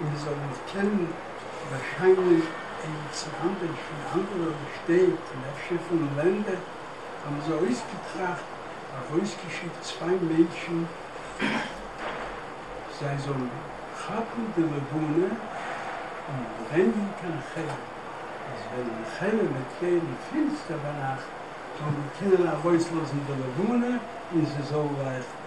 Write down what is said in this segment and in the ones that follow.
און מיר זאלן עס קענען באשיינען אין צענדליגס פון אנדערע שטעט און אפשר פון לענדער, האבן זיי אויסגעטראכט, ארויסגעשיקט צוויי מענטשן זיי זאלן כאפן די לבנה און ברענגען קיין חלם, אז ווען די חלם וועט ווערן פינסטער ביינאכט, זאלן מיר קענען ארויסלאזן די לבנה און זי זאל לייכטן.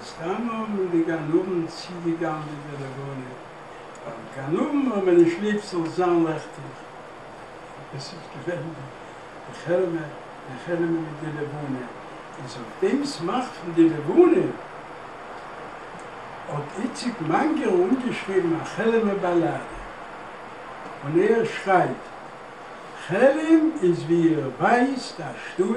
מסתמא האבן די גנבים צוגעגנבעט די לבנה, ווייל גנבים האבן נישט ליב ס'זאל זיין לעכטיג. דאס איז געווען די חרמה פון חרמ'ן מיט די לבנה, איז אויף דעם סמך פון די לבנה האט איציק מאנגער אנגעשריבן א חרמה באלאדע, און ער שרייבט, חרם איז ווי איר ווייסט א שטות,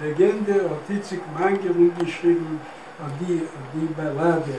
אגענדע האט איציק מאנגערן געשריבן אויף די באלאדע.